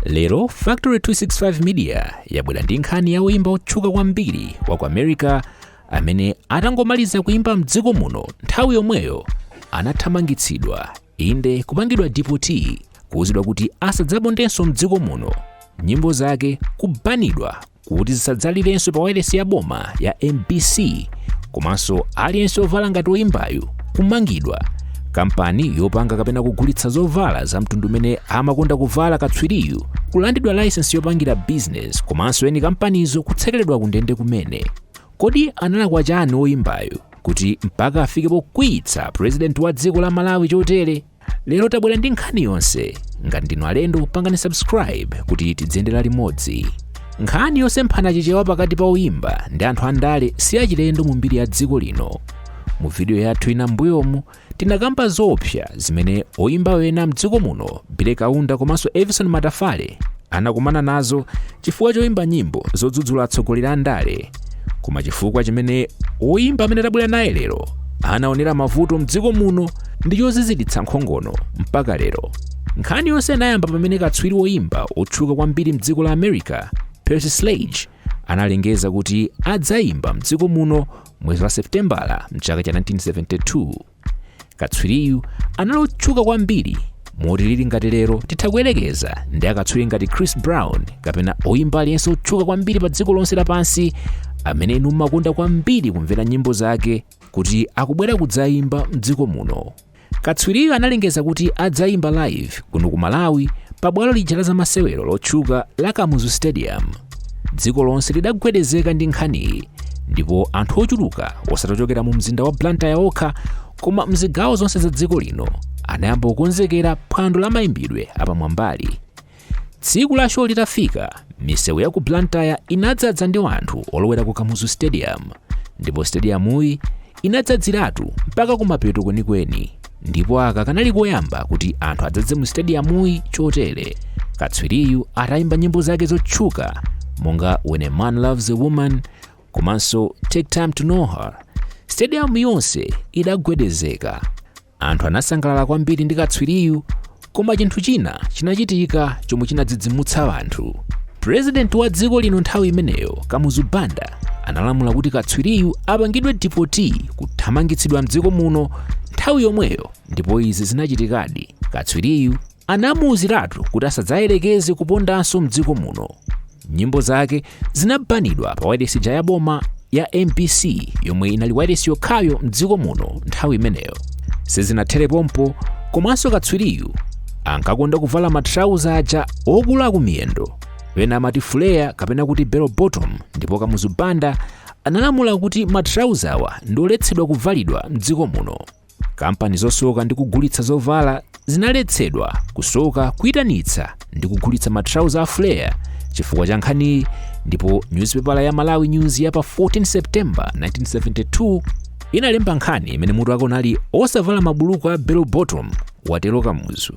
lero factory 265 media yabwera ndi nkhani ya woyimba wotchuka kwambiri wa ku america amene atangomaliza kuyimba mdziko muno nthawi yomweyo anathamangitsidwa inde kupangidwa deport kuwuzidwa kuti asadzapondenso mdziko muno nyimbo zake kubanidwa kuti zisadzalirenso pa wailesi ya boma ya mbc komanso aliyense ovala ngati oyimbayu kumangidwa kampani yopanga kapena kugulitsa zovala za mtundu umene amakonda kuvala katswiriyu kulandidwa layisensi yopangira bizinesi komanso eni kampanizo kutsekeredwa kundende kumene kodi analakwa chani oyimbayu kuti mpaka afike pokwiyitsa purezidenti wa dziko la malawi chotere lero tabwera ndi nkhani yonse ngati ndinu alendo pangani subscribe kuti tidziyendera limodzi nkhani yosemphana chichewa pakati pa oyimba ndi anthu andale si yachilendo mu mbiri ya dziko lino mu vidiyo yathu ina mbuyomu tinakamba zoopsa zimene oyimba ena mdziko muno billy kaunda komanso evison matafale anakumana nazo chifukwa choyimba nyimbo zodzudzula atsogoleri a ndale koma chifukwa chimene oyimba amene tabwera naye lero anaonera mavuto mdziko muno ndi choziziritsa nkhongono mpaka lero nkhani yonse inayamba pamene katswiri woyimba otchuka kwambiri mdziko la america percy sledge analengeza kuti adzayimba mdziko muno mwezi wa septembala mchaka cha 1972 katswiriyu anali otchuka kwambiri moti lili ngati lero titha kuyerekeza ndi akatswiri ngati chris brown kapena oyimba aliyense otchuka kwambiri pa dziko lonse lapansi amene inu mumakonda kwambiri kumvera nyimbo zake kuti akubwera kudzayimba mdziko muno katswiriyu analengeza kuti adzayimba live kuno ku malawi pa bwalo lija la zamasewero lotchuka la kamuzu stadium dziko lonse lidagwedezeka ndi nkhaniyi ndipo anthu ochuluka osati ochokera mu mzinda wa blantyre okha koma mzigawo zonse za dziko lino anayamba kukonzekera phwando la mayimbidwe apamwambali tsiku la show litafika misewu ya ku blantyre inadzadza ndi anthu olowera ku kamuzu stadium ndipo stadiyamuyi inadzadziratu mpaka kumapeto kwenikweni ndipo aka kanali koyamba kuti anthu adzadze mu stadiyamuyi chotere katswiriyu atayimba nyimbo zake zotchuka monga when a man loves a woman komanso take time to know her stadiyamu yonse idagwedezeka Anthu anasangalala kwambiri ndi katswiriyu, koma chinthu china chinachitika chomwe chinadzidzimutsa anthu. Purezidenti wa dziko lino nthawi imeneyo, Kamuzu Banda, analamula kuti katswiriyu apangidwe deport kuthamangitsidwa mdziko muno nthawi yomweyo ndipo izi zinachitikadi. Katswiriyu Anamuuziratu kuti asadzayerekeze kupondanso m'dziko muno. Nyimbo zake zinabanidwa pa wailesi ija ya boma ya MBC yomwe inali wailesi yokhayo m'dziko muno nthawi imeneyo. Sizinathere pompo komanso katswiriyu ankakonda kuvala matrauza aja okula kumiyendo pena amati fuleya kapena kuti bell bottom ndipo kamuzu banda analamula kuti matrauzawa ndi oletsedwa kuvalidwa m'dziko muno kampani zosoka ndi kugulitsa zovala zinaletsedwa kusoka kuyitanitsa ndi kugulitsa matrauza a flare chifukwa cha nkhaniyi ndipo nyuzipepala ya malawi news ya pa 14 september 1972 inalemba nkhani imene mutu wake unali osavala mabuluku a bell bottom watero kamuzu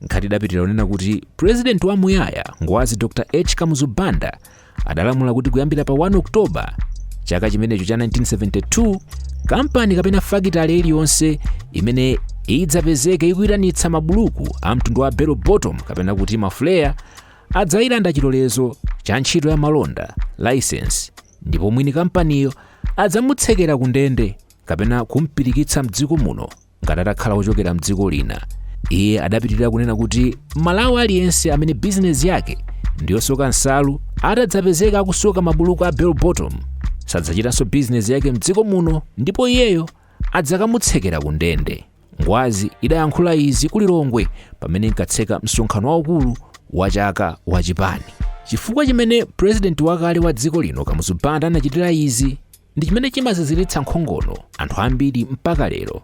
Nkhani idapitirira kunena kuti purezidenti wamuyaya ngwazi Dr H Kamuzu Banda adalamula kuti kuyambira pa 1 Oktoba chaka chimenecho cha 1972 kampani kapena fakitale iliyonse imene idzapezeke ikuyitanitsa mabuluku a mtundu wa bell bottom kapena kuti mafuleya adzayilanda chilolezo cha ntchito ya malonda license ndipo mwini kampaniyo adzamutsekera ku ndende kapena kumpirikitsa mdziko muno ngati atakhala wochokera mdziko lina iye adapitirira kunena kuti mmalawi aliyense amene bizinesi yake ndi yosoka nsalu atadzapezeka akusoka mabuluku a bell bottom sadzachitanso bizinesi yake mdziko muno ndipo iyeyo adzakamutsekera ku ndende ngwazi idayankhula izi ku lilongwe pamene inkatseka msonkhano waukulu wa chaka wa chipani chifukwa chimene purezidenti wakale wa dziko lino kamuzu banda anachitira izi ndi chimene chimaziziritsa nkhongono anthu ambiri mpaka lero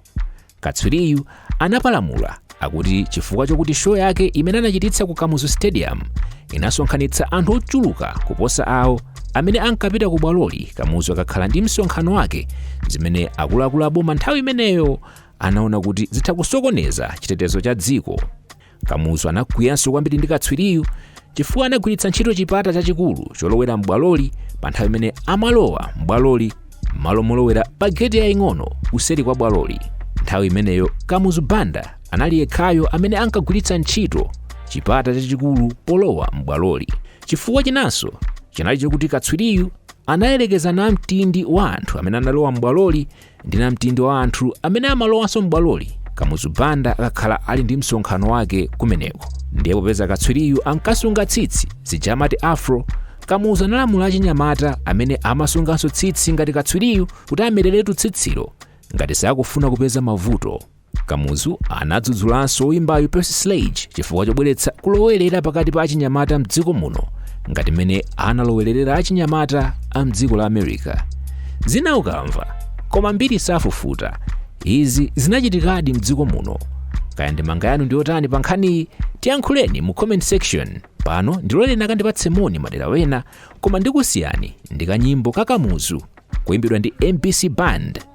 katswiriyu anapalamula akuti chifukwa chokuti show yake imene anachititsa ku kamuzu stadium inasonkhanitsa anthu ochuluka kuposa awo amene ankapita ku bwaloli kamuzu akakhala ndi msonkhano wake zimene akuluakulu aboma nthawi imeneyo anaona kuti zitha kusokoneza chitetezo cha dziko kamuzu anakwiyanso kwambiri ndi katswiriyu chifukwa anagwiritsa ntchito chipata chachikulu cholowera m'bwaloli pa nthawi imene amalowa m'bwaloli m'malo molowera pa geti yaying'ono kuseri kwa bwaloli nthawi imeneyo kamuzu banda anali yekhayo amene ankagwiritsa ntchito chipata chachikulu polowa m'bwaloli chifukwa chinanso chinali chakuti katswiriyu anayerekeza namtindi wa anthu amene analowa m'bwaloli ndi namtindi wa anthu amene amalowanso m'bwaloli kamuzu banda akakhala ali ndi msonkhano wake kumeneko ndiye popeza katswiriyu ankasunga tsitsi zija amati afro kamuzu analamula achinyamata amene amasunganso tsitsi ngati katswiriyu kuti amereretu tsitsilo ngati sakufuna kupeza mavuto Kamuzu anadzudzulanso woyimbayu Percy Sledge chifukwa chobweretsa kulowerera pakati pa achinyamata mdziko muno ngati mmene analowererera achinyamata a mdziko la America. Zina ukamva koma mbiri safufuta. Izi zinachitikadi mdziko muno. Kaya ndemanga yanu ndi yotani pa nkhaniyi? Tiyankhuleni mu comment section. Pano ndiloleni akandipatse moni madera wena koma ndikusiyani ndi kanyimbo ka Kamuzu kuyimbidwa ndi MBC Band.